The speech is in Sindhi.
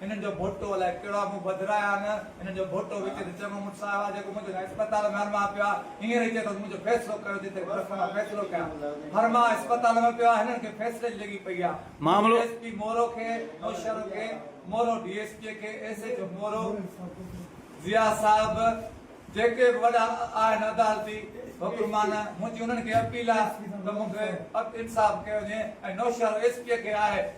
هنن جو ڀوٽو الائي ڪهڙا مون وڌرايا نه هنن جو ڀوٽو وچ تي چڱو مٽ صاحب آ جيڪو منهنجو اسپتال ۾ هرماء پيو آ هينئر ئي چئي ٿو ته منهنجو فيصلو ڪيو جتي گهر کان مان فيصلو ڪيان هرماء اسپتال ۾ پيو آ هنن کي فيصلي جي لڳي پئي آ مون ڊي ايس پي مورو کي نوشهرو کي مورو ڊي ايس پي کي S H O Moro Zia صاحب جيڪي به وڏا آهن عدالتي حڪمان منهنجي انهن کي اپيل آ ته مون کي انصاف ڪيو وڃي ۽ نوشهرو ايس پي کي آهي